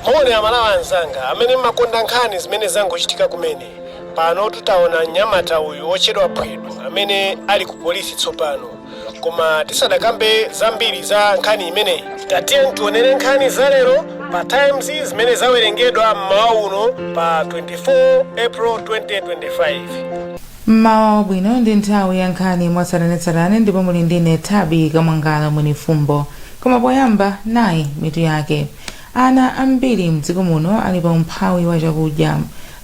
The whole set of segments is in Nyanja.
moni amalawi anzanga amene mmakonda nkhani zimene zangochitika kumene pano tutaona mnyamata uyu wotchedwa phwedo amene ali ku polisi tsopano koma tisadakambe zambiri za nkhani imeneyi tatiye tionere nkhani za lero pa times zimene zawerengedwa mmawa uno pa 24 april 2025 Mmawa wabwino ndi nthawi ya nkhani mwatsatanetsatane ndipo muli ndine Thabi Kamwangala Mwenifumbo. Koma poyamba nayi mitu yake. Ana ambiri mdziko muno ali pa umphawi wa chakudya.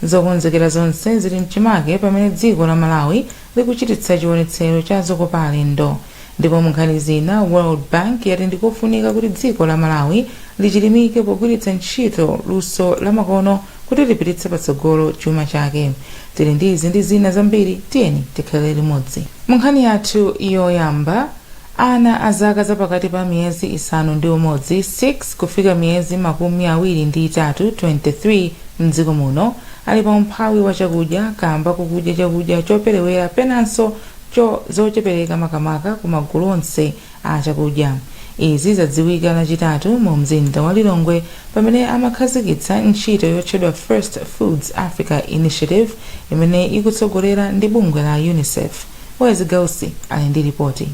Zokonzekera zonse zili mchimake pamene dziko la Malawi likuchititsa chionetsero cha zokopa alendo. Ndipo munkhani zina World Bank yati ndikofunika kuti dziko la Malawi lichilimike pogwiritsa ntchito luso lamakono kuti lipititse patsogolo chuma chake. Tili ndi izi ndi zina zambiri, tiyeni tikhale limodzi. Mu nkhani yathu yoyamba, ana a zaka za pakati pa miyezi isanu ndi umodzi, 6, kufika miyezi makumi awiri ndi itatu, 23, m'dziko muno ali pa umphawi wa chakudya kaamba kokudya chakudya choperewera penanso cho zochepereka makamaka ku magulu onse a chakudya. Izi zadziwika lachitatu mu mzinda wa Lilongwe pamene amakhazikitsa ntchito yotchedwa First Foods Africa Initiative imene ikutsogolera ndi bungwe la Unicef. Wezi Gausi ali ndi lipoti.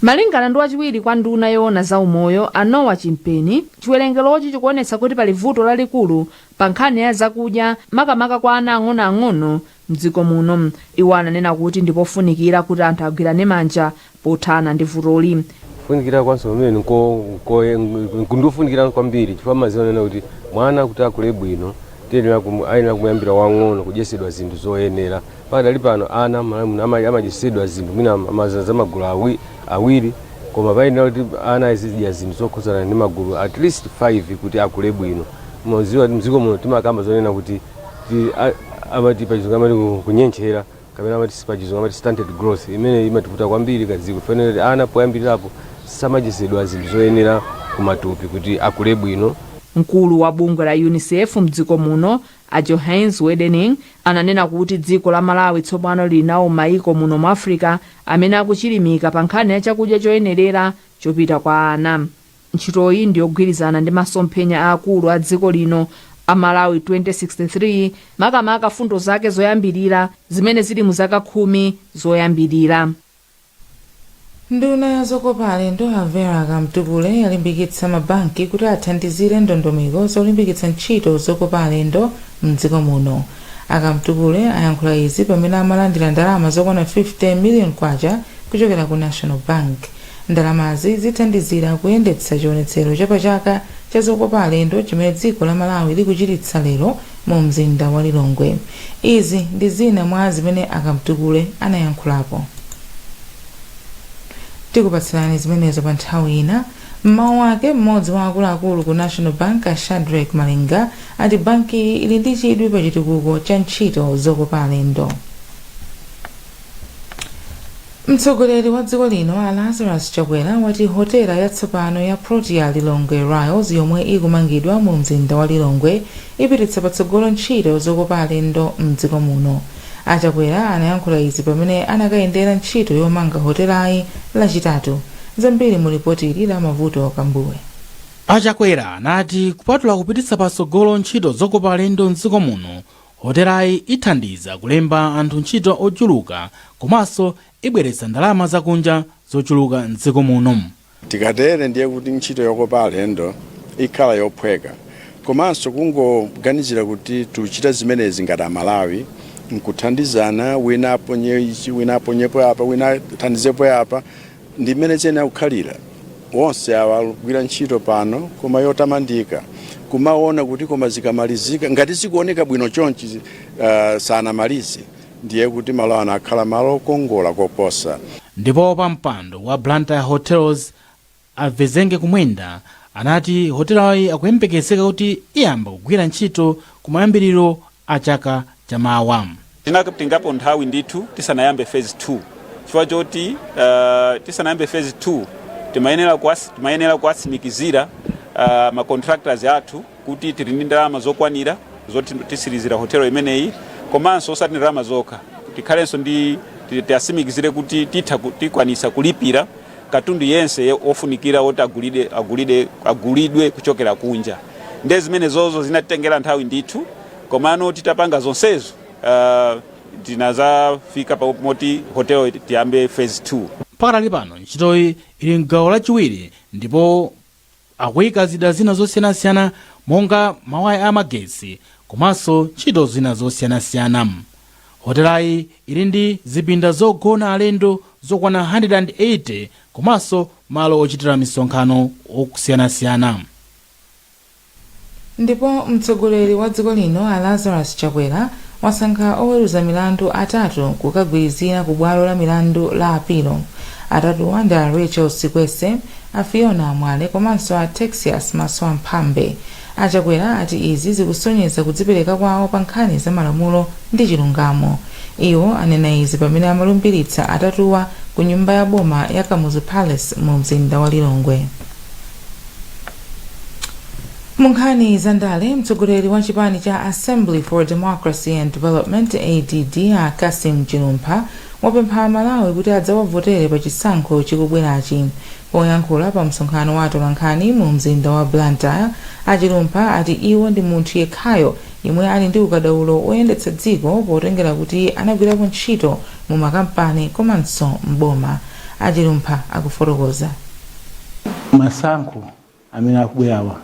Malingana ndi wachiwiri kwa nduna yoona za umoyo a Noah Chimpeni, chiwerengerochi chikuonetsa kuti pali vuto lalikulu pa nkhani ya zakudya makamaka kwa ana ang'onoang'ono m'dziko muno. Iwo ananena kuti ndipofunikira kuti anthu agwirane manja pothana ndi vutoli. Kufunikira kwa msonkhano imeneyi nko- nkoye- nku- ndiofunikira kwambiri chifukwa mmaziwa nena kuti mwana kuti akule bwino tiyenera kumu- ayenera kumuyambira wang'ono kudyetsedwa zinthu zoyenera. Pakadali pano ana m'Malawi muno ama- amadyetsedwa zinthu mwina amaza za magulu awi- awiri koma payenera kuti ana azidya zinthu zokhudzana ndi magulu at least 5 kuti akule bwino. Muziwa kuti mdziko muno timakamba zonena kuti ti- a- amati pachizungu amati ku- kunyentchera kapena amati si pachizungu amati stunted growth imene imativuta kwambiri kadziko chifukwa kuti ana poyambirirapo samadyetsedwa zinthu zoyenera kumatupi kuti akule bwino mkulu wa bungwe la unicef mdziko muno a johannes wedening ananena kuti dziko la malawi tsopano lili nawo mmaiko muno mu africa amene akuchilimika pa nkhani ya chakudya choyenerera chopita kwa ana Ntchitoyi ndi yogwirizana ndi masomphenya aakulu a dziko lino a Malawi 2063, makamaka fundo zake zoyambilira zimene zili mu zaka khumi zoyambilira. Nduna ya zokopa alendo a Vera Kamtukule yalimbikitsa ma banki kuti athandizire ndondomeko zolimbikitsa ntchito zokopa alendo m'dziko muno. A Kamtukule ayankhula izi pamene amalandira ndalama zokwana K50 million kuchokera ku National Bank. Ndalamazi zithandizira kuyendetsa chionetsero cha pa chaka cha zokopa alendo chimene dziko la Malawi likuchititsa lero mu mzinda wa Lilongwe. Izi ndi zina mwa zimene a Kamtukule anayankhulapo. Tikupatsirani zimenezo pa nthawi ina. M'mawu ake, m'modzi wa akuluakulu ku National Bank a Shadreck Malinga ati bankiyi ili ndi chidwi pa chitukuko cha ntchito zokopa alendo. mtsogoleri wa dziko lino a lazarus chakwera wati hotela yatsopano ya protea lilongwe Ryalls yomwe ikumangidwa mu mzinda wa lilongwe ipititsa patsogolo ntchito zokopa alendo mdziko muno a chakwera anayankhula izi pamene anakayendera ntchito yomanga hotelayi lachitatu zambiri mu lipoti ili la Mavuto Kambuwe a chakwera anati kupatula kupititsa patsogolo ntchito zokopa alendo mdziko muno Hotelayi ithandiza kulemba anthu ntchito ochuluka komanso ibweretsa ndalama zakunja zochuluka m'dziko muno. Tikatere ndiye kuti ntchito yokopa alendo ikhala yophweka komanso kungoganizira kuti tiuchita zimenezi ngati amalawi nkuthandizana wina aponye ichi wina aponyepo apa wina athandizepo apa Ndi mmene ziyenera kukhalira. Onse awa akugwira ntchito pano koma yotamandika. Kumaona kuti koma zikamalizika, ngati zikuoneka bwino chonchi uh, sanamalize, ndiye kuti malo ano akhala malo okongola koposa. Ndipo wapampando wa Blantyre Hotels a Vizenge Kumwenda anati hotelayi akuyembekezeka kuti iyamba kugwira ntchito kumayambiriro a chaka cha mawa. Tinatengapo nthawi ndithu tisanayambe phase 2 chifukwa choti tisanayambe phase 2 timayenera timayenera kuwatsimikizira ma contractors athu kuti tili ndi ndalama zokwanira zoti titsirizira hotelo imeneyi komanso osati ndalama zokha tikhalenso ndi tiwatsimikizire kuti titha tikwanisa kulipira katundu yense ye- wofunikira woti agulide, agulide, agulidwe kuchokera kunja nde zimenezozo zinatitengera nthawi ndithu komano titapanga zonsezo uh, tinazafika pa moti hotelo tiyambe phase 2 pakadali pano ntchitoyi ili mgawo lachiwiri ndipo akuika zida zina zosiyanasiyana monga mawaya a magetsi komanso ntchito zina zosiyanasiyana. Hotelayi ili ndi zipinda zogona alendo zokwana 180 komanso malo ochitira misonkhano osiyanasiyana. Ndipo mtsogoleri wa dziko lino a Lazarus Chakwera wasankha oweruza milandu atatu kukagwirizira ku bwalo la milandu la apilo. Atatuwa ndi a Rachel Sikwese, a Fiona Mwale komanso a Texious Masoamphambe. A Chakwera ati izi zikusonyeza kudzipereka kwawo pa nkhani za malamulo ndi chilungamo. Iwo anena izi pamene amalumbiritsa atatuwa ku nyumba ya boma ya Kamuzu Palace mu mzinda wa Lilongwe. munkhani za ndale mtsogoleri wa chipani cha assembly for democracy and development add a cassim chilumpha wapempha amalawi kuti adzawavotere pa chisankho chikubwerachi poyankhula pa msonkhano wa atolankhani mu mzinda wa blantyre a chilumpha ati iwo ndi munthu yekhayo yemwe ali ndi ukadaulo woyendetsa dziko potengera kuti anagwirapo ntchito mu makampani komanso m'boma a chilumpha akufotokoza masankho amene akubwerawa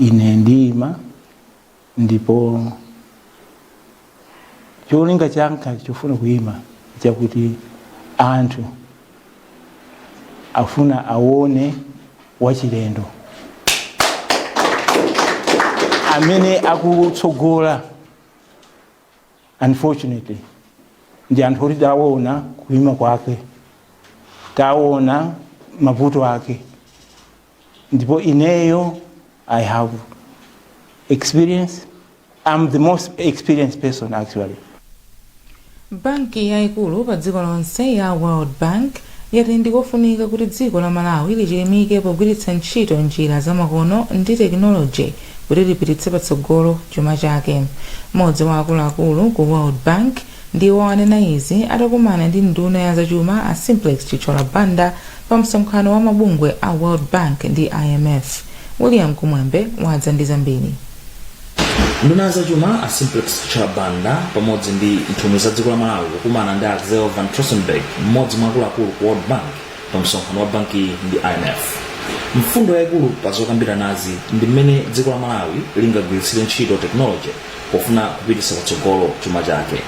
ine ndiyima ndipo cholinga changa chofuna kuyima chakuti anthu afuna awone wachilendo amene akutsogola unfortunately ndi anthu oti tawona kuima kwake tawona mavuto ake ndipo ineyo i have experience i'm the most experienced person actually banki yayikulu pa dziko lonse ya world bank yati ndikofunika kuti dziko la Malawi lichilimike pogwiritsa ntchito njira za makono ndi tekinoloji kuti lipititse patsogolo chuma chake. Mmodzi wa akuluakulu ku World Bank ndiwo anena izi atakumana ndi nduna ya zachuma a Simplex Chithyola Banda pa msonkhano wa mabungwe a World Bank ndi IMF. William Kumwembe wadza ndi zambiri. nduna ya zachuma a simplex chithyola banda pamodzi ndi nthumwi za dziko la malawi kukumana ndi axel van trotsenburg mmodzi mwa akuluakulu ku world bank pa msonkhano wa banki ndi imf mfundo yayikulu pa zokambiranazi ndi mmene dziko la malawi lingagwiritsire ntchito tekinoloji pofuna kupititsa patsogolo chuma chake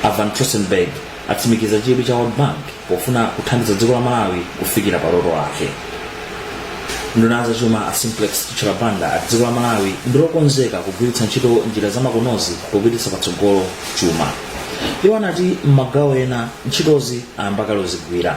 a van trotsenburg Atsimikiza chidwi cha World Bank pofuna kuthandiza dziko la Malawi kufikira pa loto lake. Nduna ya zachuma a Simplex Chithyola Banda ati dziko la Malawi ndi lokonzeka kugwiritsa ntchito njira zamakonozi popititsa patsogolo chuma. Iwo anati m'magawo ena ntchitozi ayamba kale kuzigwira.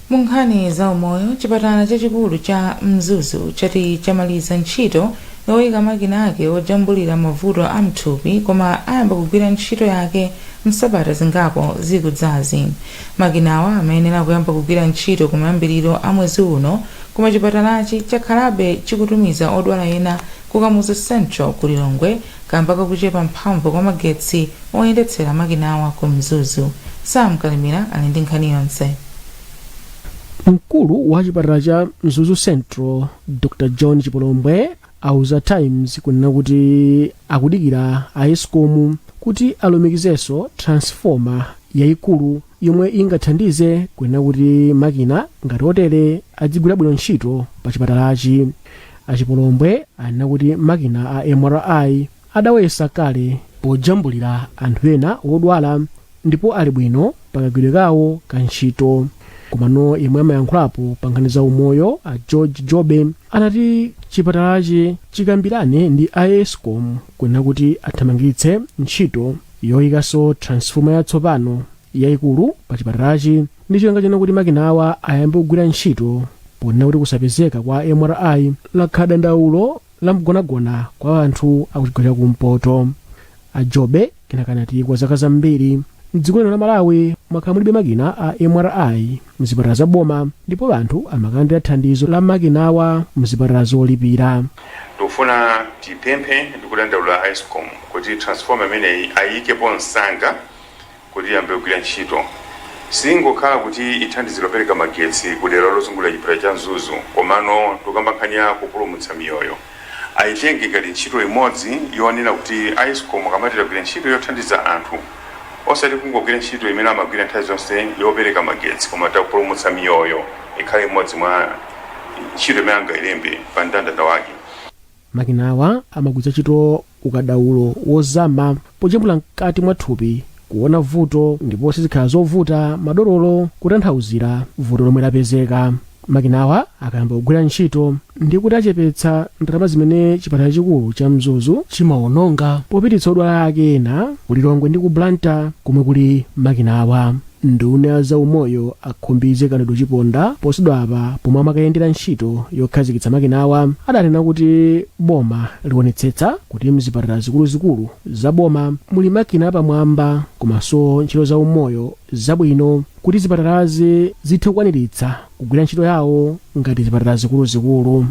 Mu nkhani za umoyo, chipatala chachikulu cha Mzuzu chati chamaliza ntchito yoika makina ake ojambulira mavuto a mthupi koma ayamba kugwira ntchito yake msabata zingapo zikudzazi. Makinawa amayenera kuyamba kugwira ntchito kumayambiriro a mwezi uno koma chipatalachi chakhalabe chikutumiza odwala ena ku Kamuzu Central ku Lilongwe Kamba kakuchepa mphamvu kwa magetsi oyendetsera makinawa ku Mzuzu, Sam Kalimira ali ndi nkhani yonse. Mkulu wa chipatala cha Mzuzu Central, Dr John Chipolombwe, auza Times kunena kuti akudikira a Escom kuti alumikizenso transformer yaikulu yomwe ingathandize kunena kuti makina ngati otere adzigwira bwino ntchito pa chipatalachi. Achipolombwe anena kuti makina a MRI adawayesa kale pojambulira anthu ena wodwala ndipo ali bwino pakagwidwe kawo ka ntchito komano yemwe amayankhulapo pa nkhani za umoyo a george jobe anati chipatalachi chikambirane ndi a escom kunena kuti athamangitse ntchito yoyikanso transfoma yatsopano yaikulu pa chipatalachi ndi cholinga chonena kuti makinawa ayambe kugwira ntchito ponena kuti kusapezeka kwa mri lakhala dandaulo la mgonagona kwa anthu akuchigawo cha kumpoto a jobe kenaka anati kwa zaka zambiri mdziko lino la malawi mwakhala mulibe makina a mri mzipatala za boma ndipo anthu amakalandira thandizo la makinawa mzipatala zolipira tikufuna tipemphe ndikudandaula a escom kuti transformer imeneyi ayikepo msanga kuti iyambe kugwira ntchito, siingokhala kuti ithandizira kupereka magetsi ku dera lozungulira chipatala cha Mzuzu komano tikukamba nkhani ya kupulumutsa miyoyo. Aitenge ngati ntchito imodzi yonena kuti a Escom akamati tagwira ntchito yothandiza anthu, osati kungogwira ntchito imene amagwira nthawi zonse yopereka magetsi koma tapulumutsa miyoyo, ikhale imodzi mwa ntchito imene angailembe pa mndandanda wake. Makinawa amagwiritsa ntchito ukadaulo wozama pojambula mkati mwa thupi kuona vuto ndipo sizikhala zovuta madokotala kutanthauzira vuto lomwe lapezeka. Makinawa akayamba kugwira ntchito ndiye kuti achepetsa ndalama zimene chipatala chachikulu cha Mzuzu chimawononga popititsa odwala ake ena ku Lilongwe ndi ku Blantyre komwe kuli makinawa. Nduna ya zaumoyo a Khumbize Kandodo Chiponda posachedwapa pomwe amakayendera ntchito yokhazikitsa makinawa adanena kuti boma lionetsetsa kuti mzipatala zikuluzikulu za boma muli makina apamwamba komanso ntchito za umoyo zabwino kuti zipatalazi zithe kukwaniritsa kugwira ntchito yawo ngati zipatala zikuluzikulu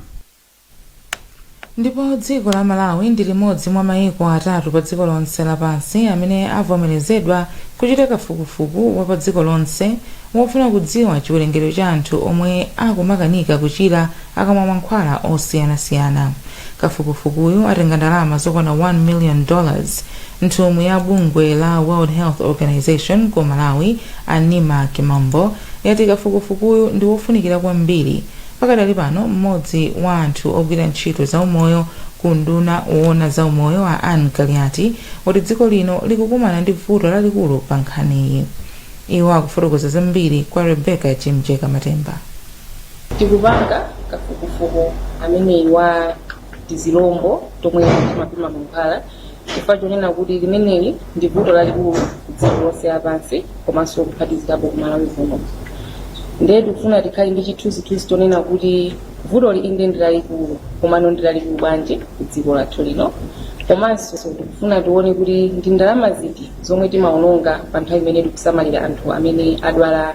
ndipo dziko la malawi ndi limodzi mwa maiko atatu pa dziko lonse lapansi amene avomerezedwa kuchita kafukufuku wa pa dziko lonse wofuna kudziwa chiwerengero cha anthu omwe akumakanika kuchira akamwa mankhwala osiyanasiyana kafukufukuyu atenga ndalama zokwana 1 million dollars nthumwi ya bungwe la world health organization ku malawi a neema kimambo yati kafukufukuyu ndi wofunikira kwambiri Pakadali pano, m'modzi wa anthu ogwira ntchito za umoyo ku unduna woona za umoyo a Anne Kaliati ati dziko lino likukumana ndi vuto lalikulu pa nkhaniyi. Iwo akufotokoza zambiri kwa Rebecca Chimjeka Matemba. Tikupanga kafukufuku ameneyi wa. tizilombo tomwe timapima mankhwala chifukwa chonena kuti limeneli ndi vuto lalikulu kudziko lonse lapansi komanso kuphatikizirapo kumalawi kuno ndiye tikufuna tikhale ndi chithunzithunzi chonena kuti vutoli inde ndi lalikulu komano ndi lalikulu bwanji kudziko lathu lino komanso tikufuna tione kuti ndi ndalama ziti zomwe timaononga pa nthawi imene tikusamalira anthu amene adwala